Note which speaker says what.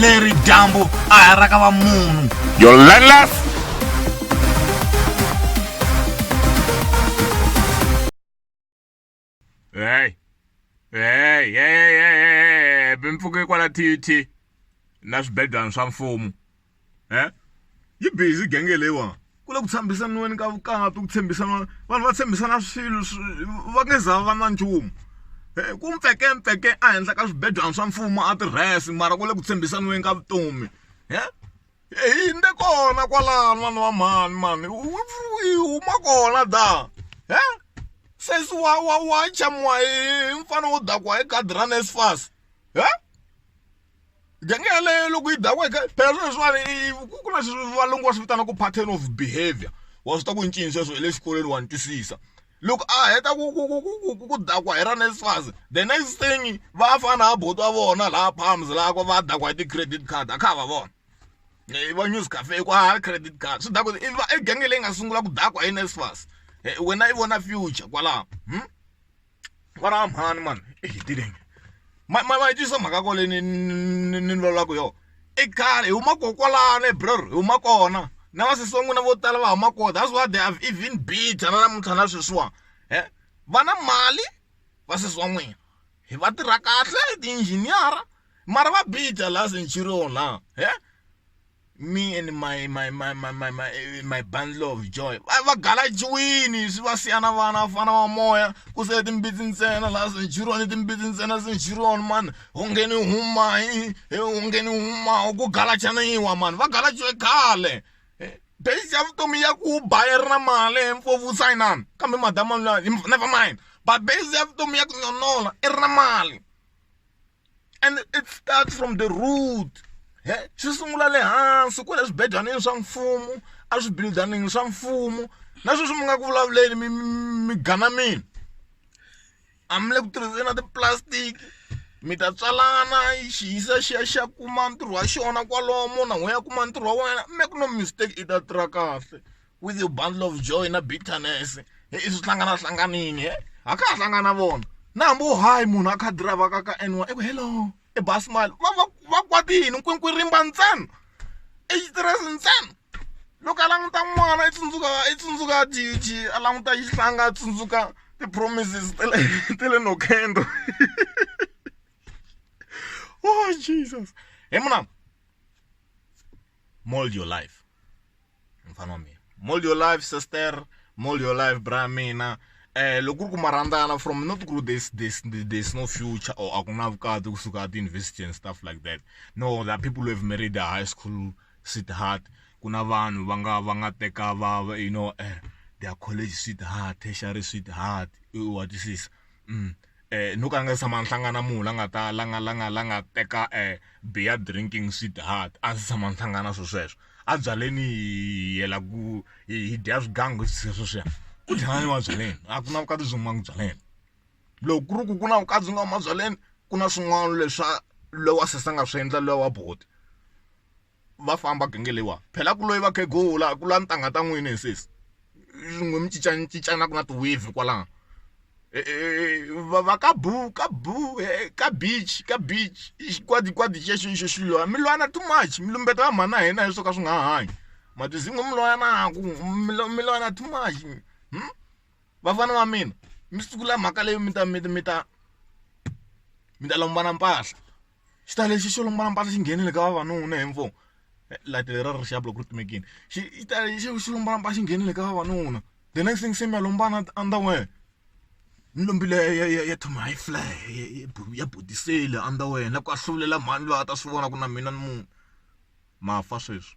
Speaker 1: leri dyambu a ha ra ka va munhu your landless hey hey hey hey bempfuke kwala tut na swibedwana swa mfumo eh yi busy genge leyiwani ku le ku tshambisaniweni ka vukati ku tshembisana vanhu va tshembisana swilo va nge za va na nchumu eh, ku mpfeke mpfeke ehenhla ka swibedwana swa mfumo a tirhesi mara ku le ku tshembisaniweni ka vutomi e hi nde kona kwalano vanhu va mhani mani yi huma kona da e sesi wa wa wa chamiwa hi mfana wo dakiwa hi gadi ra nesfas e gangi yaleyo loko yi dakweke phela swilo leswiwani ku na valungu va swi vitana ku pattern of behavior wa swi ta ku ncini sweswo hi le xikolweni wa ni twisisa loko a heta ku ku ku ku ku ku dakwa hi ra NSFAS the next thing va fana ha buti wa vona laha palms laha ku va dakwa hi ti-credit card a kha va vona eh, va news cafe ku a credit card swi dakwa i genge leyi nga sungula ku dakwa hi NSFAS eh, wena i vona future kwalaho hmm? va ra mhani mani i hi tirheni ma ma ma yi twisisa mhaka ko leyi ni ni ni vulavulaka hi yona i khale hi huma ko kwalano ebror hi huma kona na vasesi va n'wina vo tala va huma kona that's why they have even bitter na namuntlha na sweswiwani va na mali vasesi wa n'wina hi va tirha kahle ti-engineer-a mara va bitter la centurion la . me and my my my my my my, eh, my bundle of joy va va galajiwini swi va siya na vana vafana va moya ku se timbitsi ntsena laha senjuroni timbitsi ntsena senjuroni mani ungeni huma hi ungeni huma ku galachaniwa mani va galajiwe khale eh, base ya vutomi ya ku ba yi ri na mali mfovu sayinani kambe madama never mind but base ya vutomi ya ku nyonola i ri na mali and it starts from the root he swi sungula le hansi kwale swibedlwaneni swa mfumo a swibildanini swa mfumo na sweswi mi nga ku vulavuleni mi mi gana mina a mi le ku tirhiseni na ti-plastic mi ta tswalana xi yisa xi ya xi ya kuma ntirho wa xona kwalomo na n'we ya kuma ntirho wa wena mi ku no mistake i ta tirha kahle. with your bundle of joy na bitterness i swi hlangana hlanganini a ka ha hlangana vona na hambi wo hayi munhu a kha driver ka ka n1 eku hello i basi mali va va va kwati yini nkwinkwi rimba ntsena i xitiresi ntsena loko a languta n'wana i tsundzuka i tsundzuka jiji a languta xihlanga a tsundzuka ti-promises ta le ta le nokendo oh jesus he munam mold your life mfana wa mina mall your life sister mall your life bra mina eh loko ku ri ku marandzana from not ku there's, there's, there's no future or a ku na vukati kusuka ti-university and stuff like that no there are people who have married a high school sweetheart ku na vanhu va nga va nga teka va you know eh, their college sweetheart tertiary sweetheart wa twisisa mm. um no ka a nga se tshama a hlangana na munhu la nga ta la nga la nga la nga teka um beer drinking sweetheart a ndzi se tshama ni hlangana na swilo sweswo a byaleni hi yela ku hi dya swigangu sweswiya sweswiya ku dlaya ni mabyaleni a ku na vukati byi humanga byaleni loko ku ri ku ku na vukati byi nga mabyaleni ku na swin'wana leswa lowa sesi a nga swi endla lowa wa buti va famba genge leyiwani phela ku loyi vakhegula ku lwa ntangha ta n'wina hi sesi n'wi mi cincana cincana ku na ti-wave kwalano va va ka boo ka boo ka beach ka beach i xikwadikwadi xi ya xi xi xilo mi lwana too much mi lumbeta va mhana hina hi swo ka swi nga ha hanyi ma ti zimba mi lwa na ku mi lwa mi lwana too much vafana va mina mi sungula mhaka leyi mi ta mi ta mi ta mi ta lombana mpahla. xi ta lexi xo lomba mpahla xi nghenile ka vavanuna hi mfo light lera ri rixaka loko ri timekile xi yi ta xi xi lomba mpahla xi nghenile ka vavanuna the next thing se mi ya lomba na underwear ni lombile ya ya ya Tommy Hilfiger ya bodisele underwear na ku ahluvulela mhani loyi a ta swi vona ku na mina ni munhu ma fa sweswi.